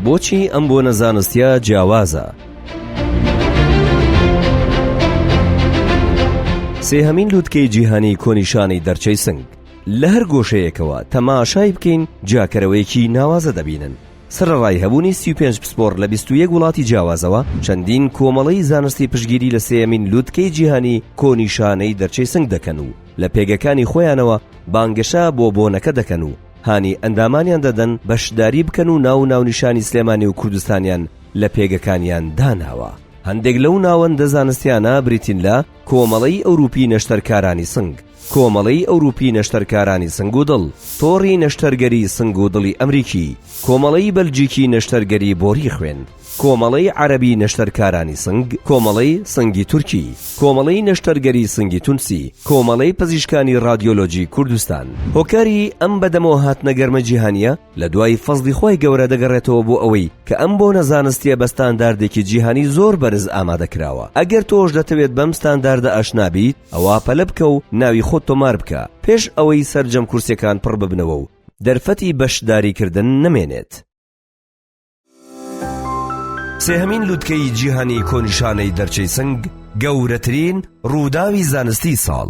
بۆچی ئەم بۆنە زانستیا جیاوازە؟ سێهەمین لووتکەی جیهانی کۆنیشانی دەرچەی سنگ لە هەر گۆشەیەکەوە تەماشای بکەین جاکەرەوەیەکی ناوازە دەبینن سەرەڕای هەبوونی سی و پێنج پسپۆڕ لە بیست و یەک وڵاتی جیاوازەوە، چەندین کۆمەڵەی زانستی پشتگیری لە سێیەمین لووتکەی جیهانی کۆنی شانەی دەرچەی سنگ دەکەن و لە پێگەکانی خۆیانەوە بانگەشە بۆ بۆنەکە دەکەن و هانی ئەندامانیان دەدەن بەشداری بکەن و ناو و ناونیشانی سلێمانی و کوردستانیان لە پێگەکانیان داناوە. هەندێک لەو ناوەندە زانستیانە بریتین لە، کۆمەڵەی ئەوروپی نەشتەرکارانی سنگ، کۆمەڵەی ئەوروپی نەشتەرکارانی سنگ و دڵ، تۆڕی نەشتەرگەری سنگ و دڵی ئەمریکی، کۆمەڵەی بەلجیکی نەشتەرگەری بۆری خوێن، کۆمەڵەی عەرەبی نەشتەرکارانی سنگ، کۆمەڵەی سنگی تورکی، کۆمەڵەی نەشتەرگەری سنگی تونسی، کۆمەڵەی پزیشکانی ڕادیۆلۆجی کوردستان. هۆکاری ئەم بەدەمەوە هاتنە گەرمە جیهانییە، لە دوای فەزڵی خوای گەورە دەگەڕێتەوە بۆ ئەوەی کە ئەم بۆنە زانستیە بە ستانداردێکی جیهانی زۆر بەرز ئامادە کراوە ئەگەر تۆش دەتەوێت بەم ستانداردە ئاشنا بیت ئەوا پەلە بکە و ناوی خۆت تۆمار بکە پێش ئەوەی سەرجەم کورسیەکان پڕ ببنەوە و دەرفەتی بەشداری کردن نەمێنێت. سێهەمین لوتکەی جیهانی کۆنیشانەی دەرچەی سنگ گەورەترین ڕووداوی زانستی ساڵ